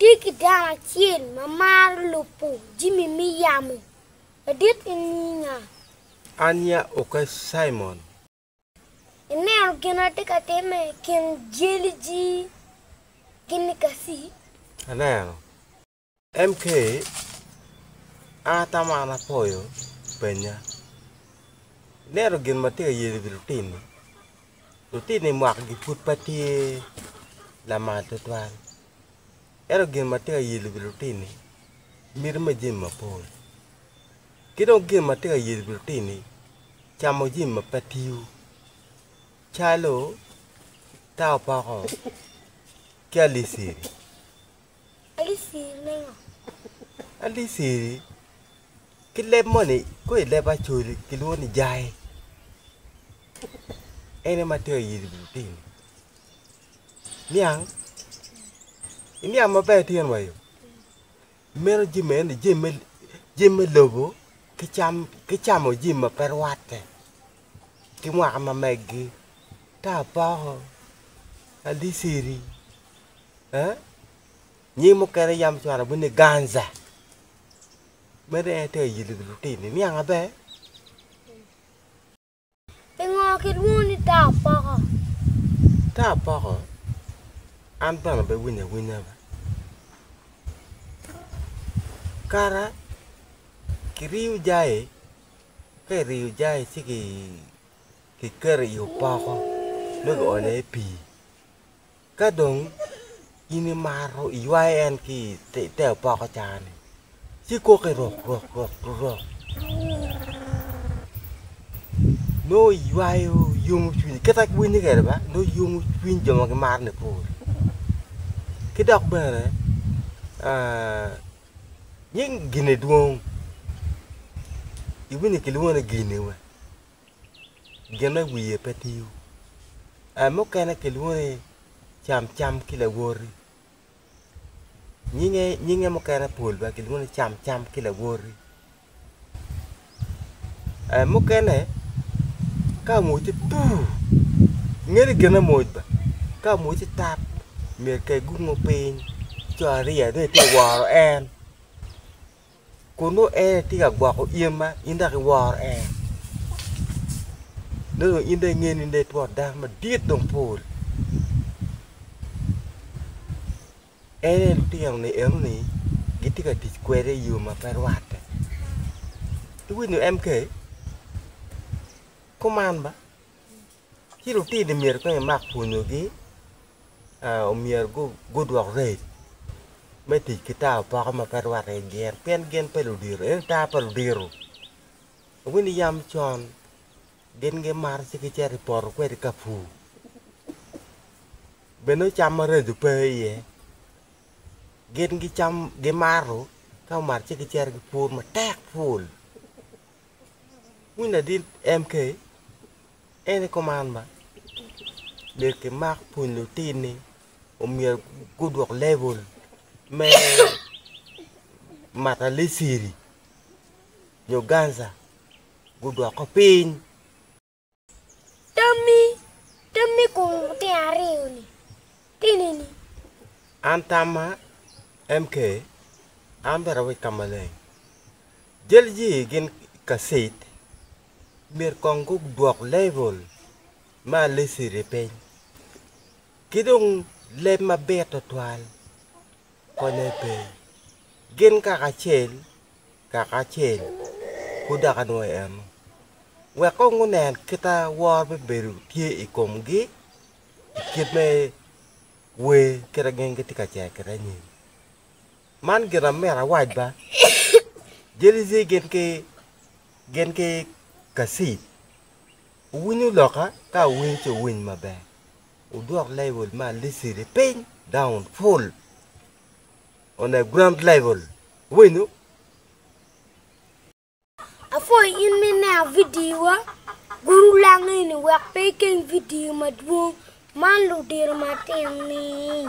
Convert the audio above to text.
Tye ki dano acel ma maro lubo jami me yamo madit en nyinge nga? Anya oka Cimon. Ineno gin ma tye ka timme i kin jeli-ji gin-ni kaci? Aneno. MK, An atamo an apoyo pennya. Ineno gin ma tye ka yelo i wi lutin-ni? Lutino i mwakigi pud pe tye lamal tutwal, ento gin ma tye ka yelo wi lutini miti me jami mapol. Ki dong gin ma tye ka yelo wi lutini camo jami ma pe tiyo calo taopoko ki aliceri. Alisiri me ngo? Alisiri ki leb moni kong i leb Acholi kilwongo ni jai. En aye ma tero yiri i lutini. Niang, iniang maber itino wa yo. Imito jami eni jami me jami me lobo ki cam ki camo jami ma pe rwatte ki mwaka ma meggi ta apoko, alisiri. eh nying mukene yam cwalo bino ni ganza meno en tye ayil lutino niang maber. I ngo kilwongo ni taa poko? Taa poko an bene pe winyo awinya be kara kiriyo jai ka iriyo jai ci kiketo i opoko nongo kionyo i pii. Ka dong in imaro iywayo en ki i te opoko caa-ni, ci ikokke rok rok rok rok, nongo iywayo yomo cwinye kite ma winye kwede ba, nongo iyomo cwiny jo ma gimaroni pol. Ki dok bene nying gin-ni dwong, iwinyo kilwongo ni gin-ni. gin me wiye pe tiyo. Ee, mukene kilwongo ni camcam ki lawoti. Nyinge, nyinge mukene pol bene kilwongo ni camcam ki lawoti. Ee, mukene ka omocce puu, inge ni gin amoc ba, ka omocce tap myero kek gungo piny, co ariya dong itye ka woro en. Kun nongo en tye ka gwoko in ma in dok iworo en. Nongo dong in dong ingeyo ni in dong itwot dano madit dong pol. En aye lutino-ni eno-ni gitye ka tic kwede i yo ma pe rwatte. Iwinyo MK? Kuman ba. Ci lutini myero kong imak pwonyogi omyero gudwok reco me tic ki tawo poko ma pe rwatte ki gin pien gin pe ludito ento tawo pa ludito winy ni yam con gin gimato ci gicito i poto kwede ka pur bed nongo cam ma reco pe iye gin gicamo gimato ka gumato ci gicito gipur matek ful winy ladit MK. En ni kuman ba myero kimak pwony lutin ni omyero gudwok level me mata liciri nyo ganza gudwoko piny. Tammi, Tammi i kom lutino aryo-ni tini ni? An tamma, MK, An bene awec ka maleng. Jal ye gin i kaccet. myero kong gudwok level me aliciri piny, ki dong leb mabit twatwal konye pe, gin kaka acel kaka acel pud dok anwoyo eno, wek kong gunen kita woro bibedo tye i komgi i kit me wer kita gin gitye ka cito kiteni. Man gin ma myero awac ba, Jelici gin ki gin ki Kacif owinyo loka? Ka owiny ci owiny maber. Wudwok level me Alicili piny, down, full on a ground level. Winyo? Apwoyo in ma ineno vidiowa. Guru lang eni wek pe ikeng vidio madwong man ludiro matino-ni.